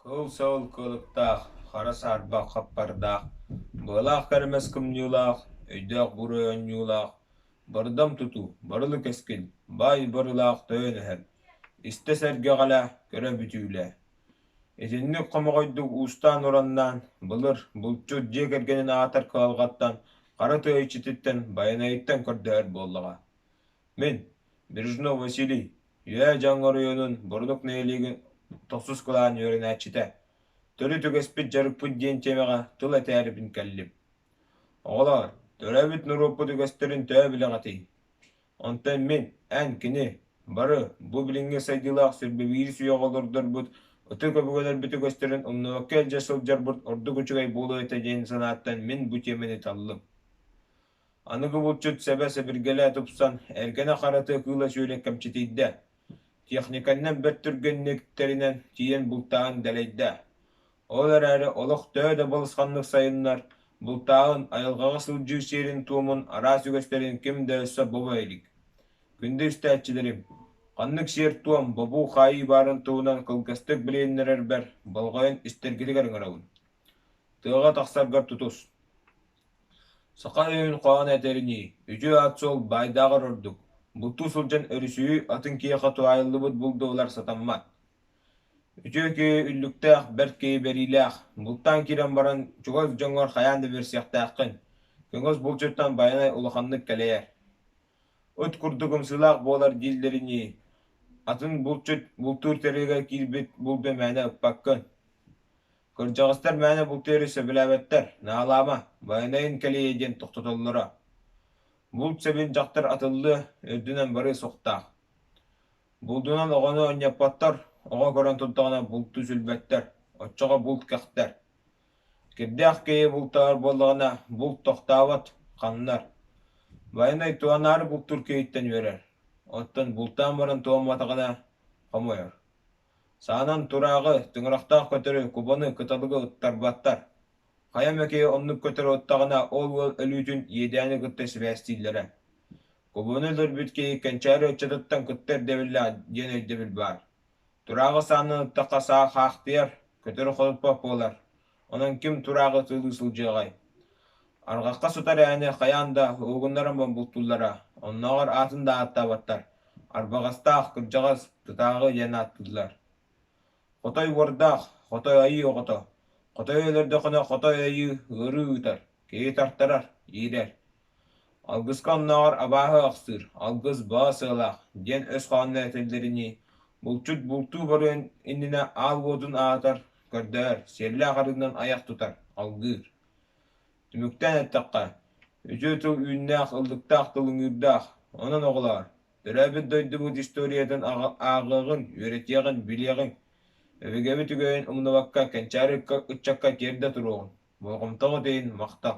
Кыл-сыл кылыктаах, хара саарбах хаппардаах, быалаах кэрэмэс кымньыылаах, өйдөөх-бур ойонньуулаах, бырдам тутуу, барылы кэскил, баай барылаах тойон эһэл, истэ сэргэҕэлэ, көрө бүтүүлэ. Итинник хомоҕойдук уустаан-ураннаан, былыр булчут дьиэ кэргэнин аатар кыһалҕаттан, хара тыа иччититтэн Байанайыттан көрдөһөр буоллаҕа. Мин, Брежнов Василий Үөө, дьон хоруйунун, бурдук нэһилиэгин тохсус кулаан үөрэнээччитэ, төрүт үгэспит дьарыкпыт диэн тиэмэҕэ тыл этээрибин кэллим. Оҕолоор, төрөөбүт норуоппут үгэстэрин төһө билэҕитий? Онтон мин, эн кини, бары бу билиҥҥи сайдыылаах сиргэ биир үйэҕэ олордорбут ытык өбүгэлэрбит үгэстэрин умнубакка илдьэ сылдьарбыт ордук үчүгэй буолуо этэ диэн санааттан мин бу тиэмэни таллым. Аныгы булчут сэбэ-сэбиргэлэ тупсан, эргэнэ-харата кыыла-сүөлэ кэмчитийдэ. Техниканнан бэрт түргэнник тэринэн, тиийэн бултааһын дэлэйдэ. Ол эрээри олох төһө да балысханнык сайыннар, бултааһын айылҕаҕа сылдьыы сиэрин-туомун араас үгэстэрин ким да өссө бобо илик. Күндү истээччилэрим, ханнык сиэр-туом, бобуу хаайыы баарын туһунан кылгастык билиһиннэрэрбэр болҕойон истэргитигэр ыҥырабын. Тыаҕа тахсаргар тутус. Саха өйүн хоһоон этэринии, үтүө отчуол баайдааҕар ордук, бултуу сылдьан өрүсүйүү атын киһиэхэ туһаайыллыбыт булдуолар сатаммат. Үтүө киһи үллүктээх, бэрт киһи бэриилээх, бултаан киирэн баран чугас дьоҥҥор хайаан да биэрсиэхтээххин, кэҥэс булчуттан байанай улаханнык кэлэйэр. Ыт курдук ымсыылаах буолар дииллэринии, атын булчут бултуур тэрилгэ киирбит булду мээнэ ыппаккын. Кырдьаҕастар мээнэ бултуйары сөбүлээбэттэр. Наалаама, байанайын кэлиэ диэн тохтотоллоро. Булт сэбин дьахтар атыллыа, үрдүнэн барыа суохтаах. Булдунан оҕону онньоппоттор, оҕо көрөн турдаҕына булту сүлбэттэр, оччоҕо булт кэхтэр. Кирдээх киһи бултаабар буоллаҕына, булт тохтообот, ханнар. Байанай туһанаары бултуур киһиттэн үөрэр. Оттон бултаан баран туомматаҕына, хомойор. Саанан турааҕы, тыҥырахтаах көтөрү, кубаны кыталыгы ыттарбаттар. Хайа эмэки оннук көтөрү ыттаҕына ол уол өлүүтүн иэдээни кытта сибээстииллэрэ. Кубаны өлөрбүт киһи кэнчээри ыччатыттан кытта ирдэбиллэ диэн өйдөбүл баар. Турааҕы саанан ыттахха саа хаахтыйар, көтөрү хотуппат буолар. Онон ким турааҕы сылыы сылдьыаҕай? Арҕахха сытар ээни хайаан да уһугуннаран бултууллара, оннооҕор аатын да ааттаабаттар, арбаҕастаах, кырдьаҕас, тытааҕы диэн ааттыыллар. Хотой уордаах, хотой айыы оҕото, хотой өлөрдөххүнэ хотой айыы ыарыы ыытар. Киһи тартарар, иирэр. Алгыска оннооҕор абааһы ахсыыр, алгыс баа сыалаах, диэн өс хоһооно этэллэринии, булчут бултуу барыан иннинэ аал уотун аһатар, көрдөһөр, сиэллээх арыытынан айах тутар, алгыыр. Түмүктээн эттэххэ, үтүө тыл үүннээх ыллыктаах тылыҥыырдаах, онон оҕолоор, төрөөбүт дойдубут историятын ааҕыаҕын, үөрэтиэҕин, билиэҕиҥ. Өбүгэбит үгэһин умнубакка, кэнчээри ыччакка тиэрдэ туруоҕун, болҕомтоҕут иһин махтал